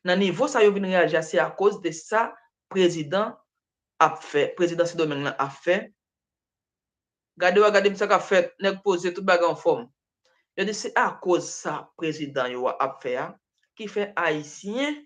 Nan nivo sa yo vin reyaji a se akoz de sa prezidan ap fè, prezidan sendomeng lan ap fè, gade wa gade m sa kap fèt, nèg poze tout bagay anfòm. Yo di se akoz sa prezidan yo a ap fè a ki fè ayisyen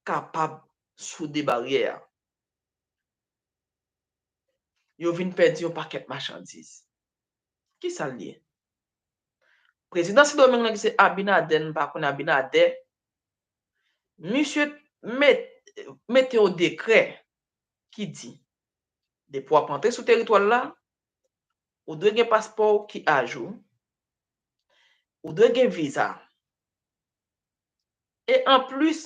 kapab soude baryè a. Yo vin pèdi yon pakèt machandiz. Kisa l ye? Prezidan Sidomeng nan ki se Abinader n pa konn Abinadè, misye met mete yon dekrè ki di depi w ap antre sou teritwa l la, ou dwe gen paspò w ki ajou, ou dwe gen viza e anplis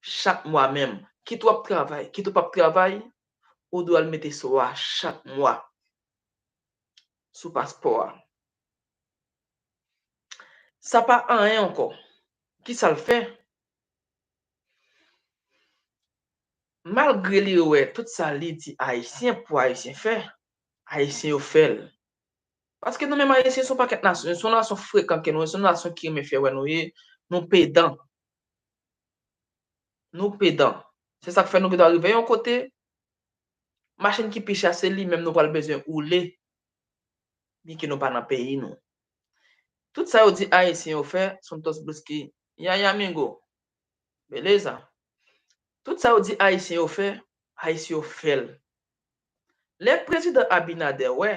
chak mwa menm. Kit w ap travay, kit ou p ap travay, ou dwe al mete so a chak mwa sou paspò a. Sa pa anyen ankò. Ki sa l fè? Malgre li wè tout sa li di Ayisyen pou Ayisyen fè, Ayisyen yo fè l. Paske nou menm Ayisyen se yon pakèt nasyon, se yon nasyon frekan ke nou ye, se yon nasyon ki renmen fè wè nou ye, nou pedan. Nou pedan. Se sa k fè nou gen dwa rive yon kote, machin ki pi chè se li menm nou pral bezwen woule, byen ke nou pa nan peyi nou. Tout sa yo di Ayisyen yo fè, Santos Briski, Yaya Mingo, Beleza, tout sa yo di Ayisyen yo fè, Ayisyen yo fè l. Lè Prezidan Abinader wè,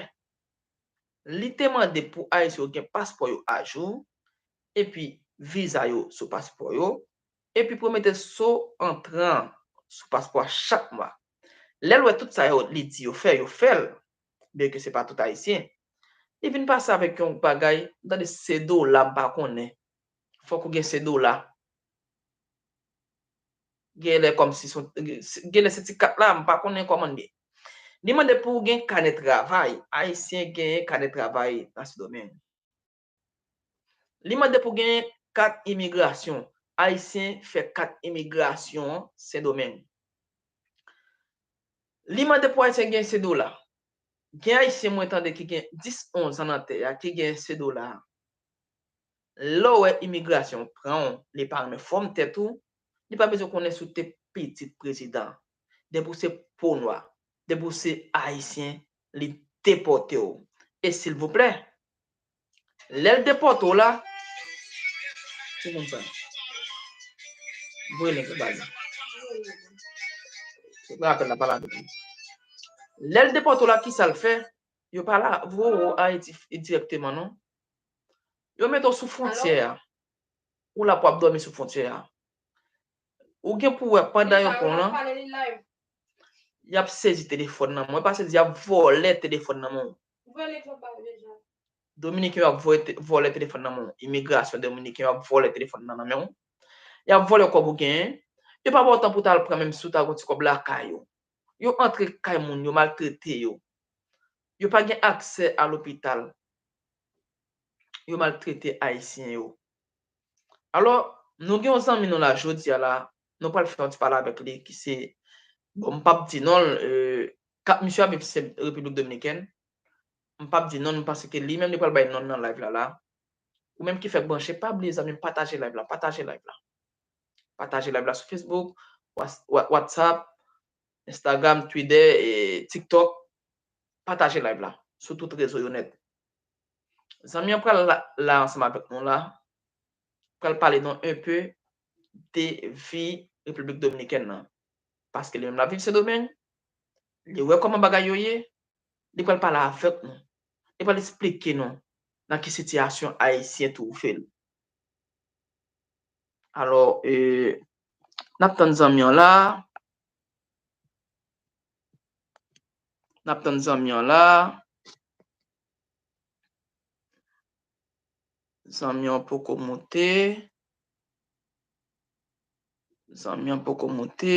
li te mande pou Ayisyen yo gen paspò yo ajou, epi viza yo sou paspò yo, epi pwomete so antran an sou paspò a chak mwa. Lè l wè tout sa yo li di yo fè, yo fè l, byen ke se pa tout Ayisyen, li vin pase avèk yon bagay, m tande se dola m pa konnen, fòk ou gen se dola, gen lè kòmsi son, gen lè se ti kat la, m pa konnen kòman l ye. Li mande pou ou gen kanè travay, Ayisyen genyen kanè travay nan Sendomeng. Li mande pou gen kat imigrasyon. Ayisyen fè kat imigrasyon an Sendomeng. Li mande pou Ayisyen gen Cedola. Gen Ayisyen mwen tande ki gen 10, 11 an nan tè a ki gen Cedola. Lè w wè imigrasyon pran w, li pa renmen fòm tèt ou, li pa bezwen konnen si w te pitit prezidan. Depi w se po nwa, depi w se Ayisyen, li depòte w. E silvouplè, Lèl depòte w la. Se konn sa. Voye link la baz. Ou pran apèl la pala avèk li. Lèl depòte w la ki sal fè? Yo pala voye w Ayiti dirèkteman non. Yo mete w sou fwontyè a. Ou la pou ap dòmi sou fwontyè a. Ou gen pou wè pandan yo pran w lan. Yap sezi telefòn nan. Mwen pa sezi yap vòlè telefòn nan mwen. Ou vòlè egzanp pa ou deja. Dominiken yo ap vòlè telefòn nan men w. Imigrasyon dominiken yo ap vòlè telefòn nan nan men w. Y ap vòlè kòb ou genyen. Yo pa ba w tan pou w ta al pran menm si w ta gen yon ti kòb lakay ou. Yo antre kay moun yo maltrete yo. Yo pa gen aksè a lopital. Yo maltrete Ayisyen yo. Alò, nou gen yon zanmi nou la jodi a la, nou pral fè yon ti pale avèk li ki se, bon m pap di non l, ka, misye ap viv se Repiblik Dominikèn, m pap di non l paske li menm li pral bay non l nan live la la. Ou menm ki fèk branche, pa bliye zanmi m pataje live la, pataje live la. Pataje live la sou Facebook, was, wa, WhatsApp, Instagram, Twitter, e TikTok, pataje live la sou tout rezo yo nèt. Zanmi an pral la ansanm avèk nou la, pral pale nou un peu de vi Repiblik Dominikèn nan. Paske li menm lap viv Sendomeng, li wè kòman bagay yo ye, li pral pale avèk nou, li pral esplike nou nan ki sitiyasyon Ayisyen twouve l. Alò, nap tann zanmi an la. Nap tann zanmi an la. Zanmi an poko moute. Zanmi an poko moute.